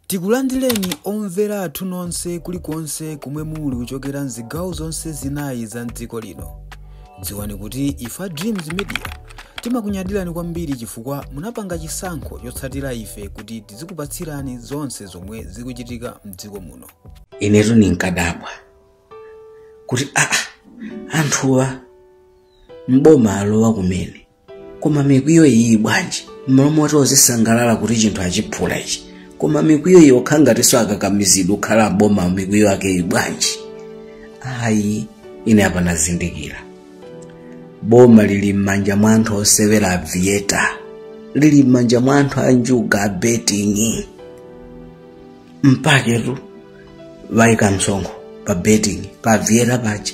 Tikulandileni omvera athu nonse kulikonse komwe muli kuchokera mzigawo zonse zinayi za mdziko lino. Dziwani kuti ife a Dreams Media timakunyadirani kwambiri chifukwa munapanga chisankho chotsatira ife kuti tizikupatsirani zonse zomwe zikuchitika mdziko muno. inetu ndinkadabwa kuti aa anthuwa m'boma alowa kumene koma mikwiyo iyi bwanji mmalo moti azisangalala kuti chinthu achiphula ichi koma mikwiyo iyi ikukhala ngatinso akakamizidwa kukhala m'boma mikwiyo ake iyi bwanji ayi ine apa nazindikira boma lili m'manja mwa anthu osewera avieta lili m'manja mwa anthu anjuga a betting mpaketu aika msonkho pa betting pa avieta paja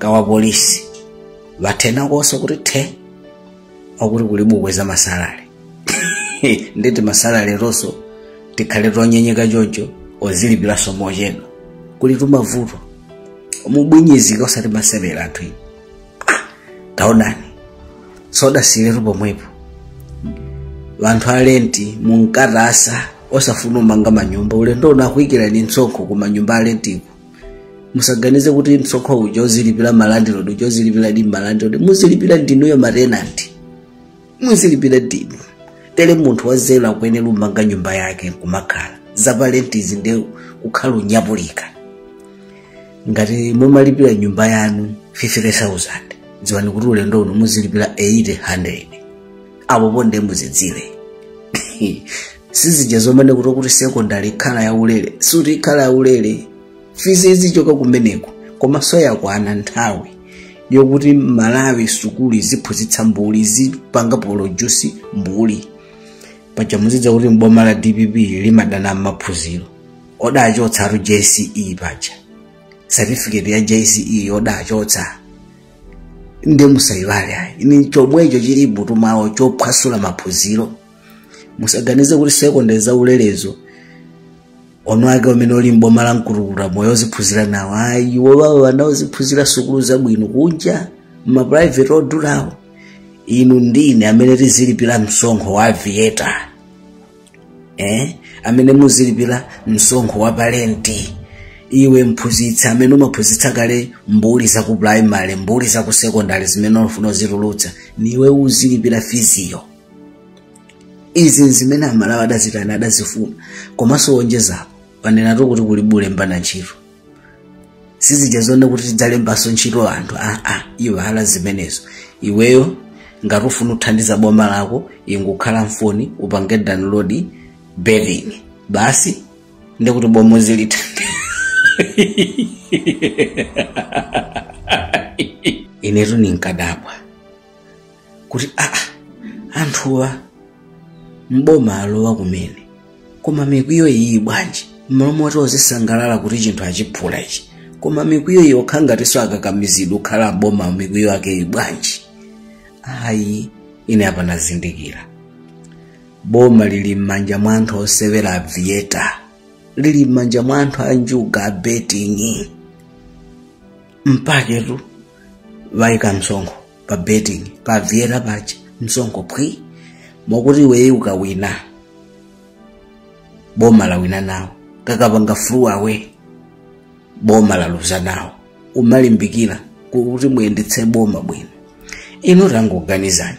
kwa apolisi bathenakonso kuti the akuti kuli bukwe za masalale nditi masalale onso tikhale tonyenyeka choncho ozilipiranso mochedwa kuli tumavuto mubwinyizika osati masewera anthu iyi taonani sadasiyiretu pomwepo anthu alenti munkathasa osafuna umanga manyumba ulendo uno akuikirani msonkho ku manyumba alentiko musaganize kuti msonkho uja azilipira malandilodi uja azilipiradi malandilodi muzilipira ndinuyo matenanti muzilipira ndinu tere munthu wanzeru akuyenera umanga nyumba yake nkumakhala zapalentizi nde kukhala unyapulika ngati mumalipira nyumba yanu 50000 dziwani kuti ulendo uno muzilipira 800 apo nde muzidziwe sizija zomanena kuti kuti sekondari ikhala yaulere sikuti ikhala yaulere fizi izichoka kumeneko komanso yakwana nthawi yokuti malawi sukulu iziphunzitsa mbuli izipanga produce mbuli paja mudziwa kuti boma la dpp limadana ndi maphunziro adachotsatu jce paja satifiketi ya jce adachotsa nde musayiwale ayi ndi chomwecho chili mutu mwawo chophwasula maphunziro musaganize kuti sekondari zaulelezo ana ake amene ali m'boma la mkukutamoyo oziphunzira nawo ayi iwo awo ana aziphunzira sukulu zabwino kunja mmaprivate odulawo inu ndi ine amene tizilipira msonkho wa aviator eh? amene muzilipira msonkho wa palenti iwe mphunzitsi amene umaphunzitsa kale mbuli za ku primary mbuli za ku secondary zimene ukufuna uzitulutsa ndi iwe uzilipira fiziyo izi nzimene Amalawi adazitana adazifuna komanso wonjezapo panenatu kuti kulibe kulembana ntchito sizija zonena kuti tidzalembanso ntchito anthu aa ah, ah, iwala zimenezo iweyo ngati ufuna uthandiza boma lako ingokhala mfoni upange download betting basi ndikuti boma uzilithandiza inetu ninkadabwa kuti aa anthuwa mboma alowa kumene koma mikwiyo iyi bwanji mmalo moti ozisangalala kuti chinthu achiphula ichi koma mikwiyo iyi okhala ngatinso akakamizidwa kukhala mboma mikwiyo ake iyi bwanji ayi ine apa nazindikira boma lili m'manja mwa anthu osewera aviator lili m'manja mwa anthu anjuga a betting mpachetu waika msonkho pa betting pa aviator paja msonkho phwi mokuti iweyo ukawina boma lawina nawo kakapanga flew away boma laluza nawo umalimbikira kuti muyendetse boma bwino inu tangoganizani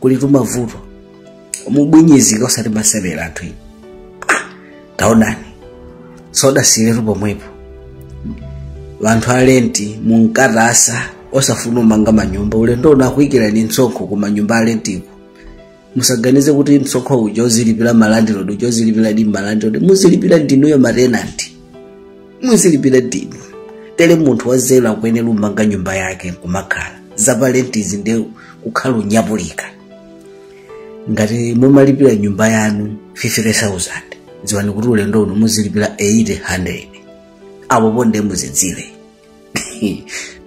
kuli tumavuto mubwinyizika osati masewera anthu inu Ah, taonani sodasiyiretu pomwepo wanthu alenti munkatasa osafuna umanga manyumba ulendo uno akuyikirani msonkho ku manyumba alentiko musaganize kuti msonkho uja uzilipira malandilodi uja uzilipira ndi malandilodi muzilipira ndi inuyo matenanti muzilipira ndinu tere munthu wanzeru akuyenera umanga nyumba yake nkumakhala zapalentizi nde kukhala unyapulika ngati mumalipira nyumba yanu 50000 dziwani kuti ulendo uno muzilipira 800 apopo nde muzidziwe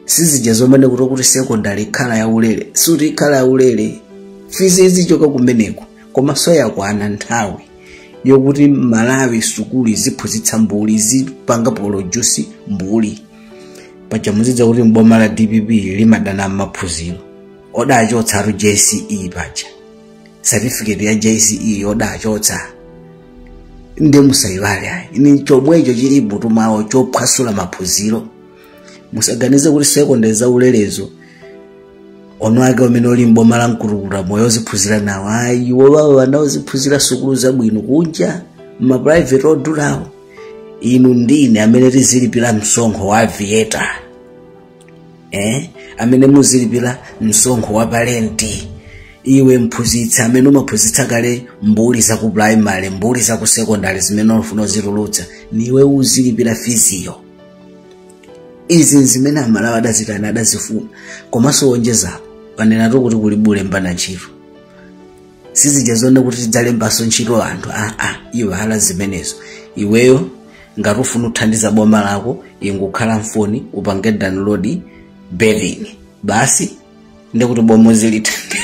sizija zomanena kuti kuti sekondari ikhala yaulere sikuti ikhala yaulere fizi izichoka kumeneko komanso yakwana nthawi yokuti malawi sukulu iziphunzitsa mbuli izipanga produce mbuli paja muzidziwa kuti mboma la dpp limadana ndi maphunziro odachotsatu jce paja certificate ya jce odachotsa ndiye musayiwale ayi ni chomwecho chili mmutu mwawo chophwasula maphunziro musaganize kuti sekondari za ulerezo ana ake amene ali mboma la mkulukuta moyo oziphunzira nawo ayi iwo wawo wana oziphunzira sukulu zabwino kunja mmaprivate odulawo inu ndine amene tizilipira msonkho wa aviator eh? amene muzilipira msonkho wa palenti iwe mphunzitsi amene umaphunzitsa kale mbuli za ku primary mbuli za ku secondary zimene ufuna uzitulutsa niwe uzilipira fiziyo izi nzimene amalawi adazitana adazifuna komanso wonjezapo panenatu kuti kulibe ulembana ntchito si zija zoti kuti tidzalembanso ntchito anthu aa ah, ah, iwala zimenezo iweyo ngati ufuna uthandiza boma lako ingokhala mfoni upange download Betwin basi ndikuti boma zilithandiza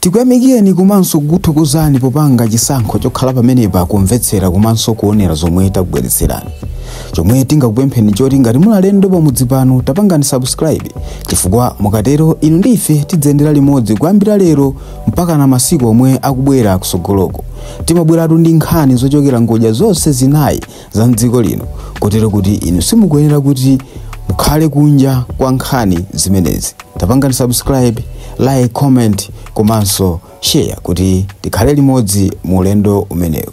Tikuyamikireni komanso kukuthokozani popanga chisankho chokhala pamenepa kumvetsera komanso kuonera zomwe takubweretserani. Chomwe tingakupempheni choti ngati muli alendo pamudzi pano tapangani subscribe chifukwa mukatero inu ndi ife tidziyendera limodzi kuyambira lero mpaka na masiku omwe akubwera kusogoloko. Timabweratu ndi nkhani zochokera ngodya zonse zinayi za mdziko lino kotero kuti inu simukuyenera kuti mukhale kunja kwa nkhani zimenezi tapangani subscribe like comment komanso share kuti tikhale limodzi mu ulendo umenewu